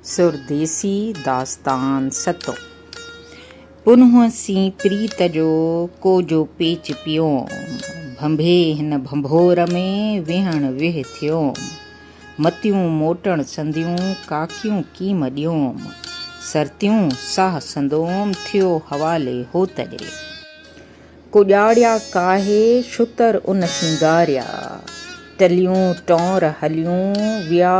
سرديسي داستان ستون. پنهون سين پريت جو ڪوجو پيچ پيوم. ڀنڀي هن ڀنڀور ۾ ويهڻ ويهه ٿيوم. متيون موٽڻ سنديون ڪاڪيون ڪيم ڏيوم. سرتيون ساهه سندوم ٿيو حوالي هوت ڏي. ڪوڄاڙيا ڪاهي شتر ان سينگاريا. ٽليون ٽؤنر هليون ويا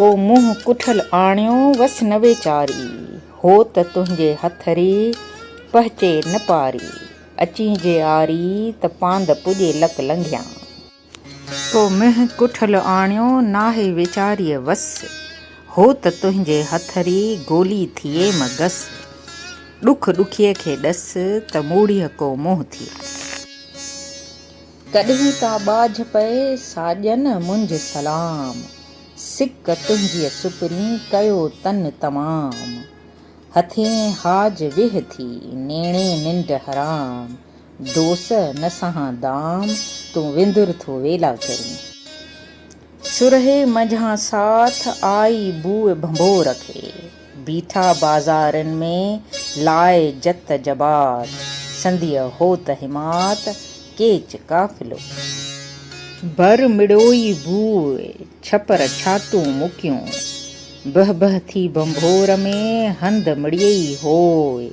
ڪو منهن ڪٺل آڻيو وس نه ويچاري، هو ته تنهنجي هٿ ري پهچي نه پاري، اچين جي آري ته پاند پڄي لڪ لنگهيان. ڪو منهن ڪٺل آڻيو ناهي ويچاريء وس، هو ته تنهنجي هٿ ري گولي ٿئي مگس، ڏک ڏکيء کي ڏس ته موڙيء ڪو منهن ٿئي. ڪڏهن ٿا ٻاجهه پئي ساڄن منجهه سلام سڪ تنهنجيء سپرين ڪيو تن تمام هٿين حاج ويهه ٿي نيڻي ننڊ حرام دوس نه سهان دام تون وندر ٿو ويلا ڪرين. سرهي منجهان ساٿ آئي بوء ڀنڀور کي. بيٺا بازارين ۾ لائي جت جبات. سنديء هوت حمات ڪيچ قافلو. ڀر مڙوئي بوء ڇپر ڇاتون مڪيون. بهه بهه ٿي ڀنڀور ۾ هنڌ مڙيئي هوء.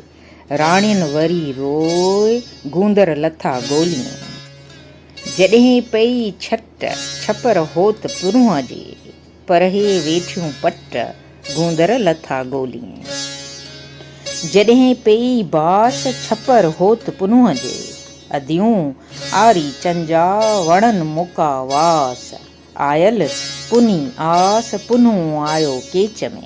راڻين وري روئي گوندر لٿا گوليون. جڏهين پئي ڇٽ ڇپر هوت پرونهن جي، پرهي ويٺيون پٽ گوندر لٿا گوليون. جڏهين پئي باس ڇپر هوت پرونهن جي، اديون آري چنجا وڻن موڪا واس، آيل پني آس پنهون آيو ڪيچ ۾.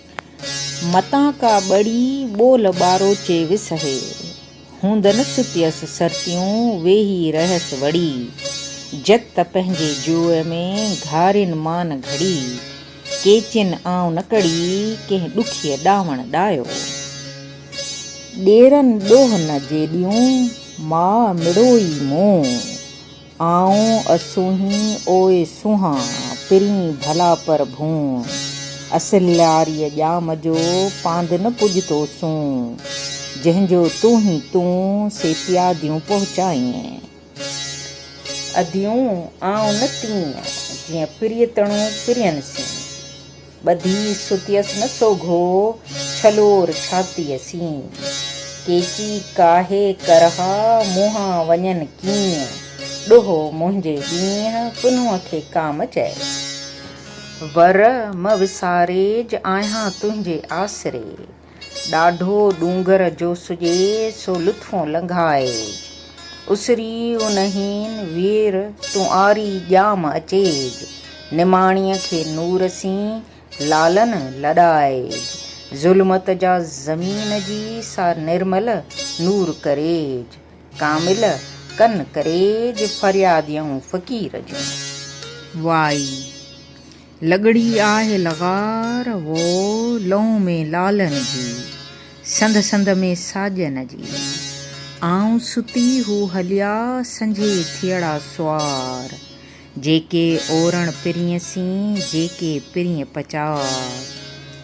متان ڪا ٻڙي ٻول ٻارو چي وسهي. هوندن ستيس سرتيون ويهي رهيس وڙي. جت ته پنهنجي جوء ۾ گهارين مان گهڙي. ڪيچين آئون نه ڪڙي ڪنهن ڏکيء ڏانوڻ ڏايو. ڏيرن ڏوهه نه جيڏيون ماء مڙوئي مون. آئون اسونهين اوء سونهان، پرين ڀلا پر ڀون. اصل لاريء ڄام جو، پاند نه پڄتو سون. جنهن جو تون هين تون، سي پياديون پهچائين. اديون آئون نه تيئن، جيئن پريتڻو پرين سين. ٻڌي ستيس نه سوگهو ڇلور ڇاتيء سين. ڪيچي ڪاهي ڪرها منهان وڃن ڪيئن. ڏوهه منهنجي ڏينهن ڪنوء کي ڪام چئي. ور مه وساريج آهيان تنهنجي آسري. ڏاڍو ڏونگر جو سجي سو لطفون لنگهائي. اسري اونهين وير تون آري ڄام اچيج. نماڻيء کي نور سين لالن لڏائيج. ظلمت جا زمين جي سا نرمل نور ڪريج. ڪامل ڪن ڪريج فرياديون فقير جون. واء. لڳڙي آهه لغار وو لئون ۾ لالن جي سنڌ سنڌ ۾ ساڄن جي آئون ستي هو هليا سنجهي ٿيئڙا سوار جيڪي اورڻ پرينء سين جيڪي پرينء پچار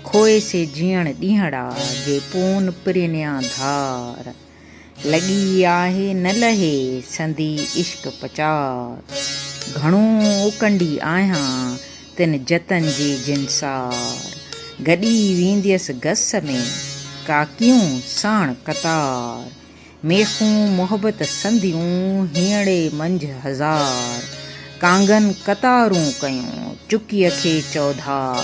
کوئي سي جيئڻ ڏينهڙا جي پون پرينيان ڌار. لڳي آهي نه لهي سندي عشق پچار گهڻو اوڪنڊي آهيان تن جتن جي جنسار گڏي وينديس گس ۾ ڪاڪيون ساڻ قطار ميخون محبت سنديون هينئڙي منجهه هزار ڪانگن قطارون ڪيون چڪيء کي چوڌار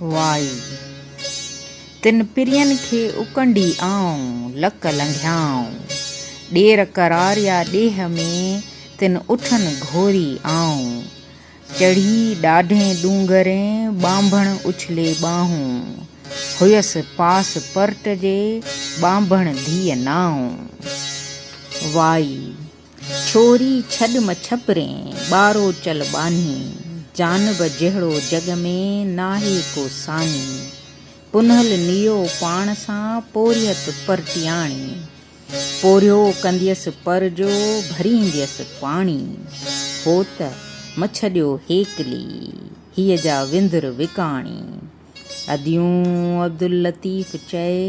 وائي تن پرين کي اڪنڊي آئون، لڪ لنگهيائون ڏير قرار يا ڏيهه ۾، تن اٺن گهوري آئون. چڙهي ڏاڍين ڏونگرين، ٻانڀڻ اڇلي ٻانهون، هيس پاس پرٽ جي، ٻانڀڻ ڌيء نائون. وائي. ڇوري ڇڏ مڇپرين، ٻارو چل ٻانهي، جانب جهڙو جڳ ۾ ناهي ڪو ساڃي، پنهل نيو پاڻ سان پورهيت پرٽياڻي، پورهيو ڪنديس پر جو ڀرينديس پاڻي، هو ته مڇڏيو هيڪلي، هيء جا وندر وڪاڻي، اديون عبداللطيف چئي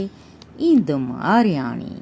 ايندم آرياڻي.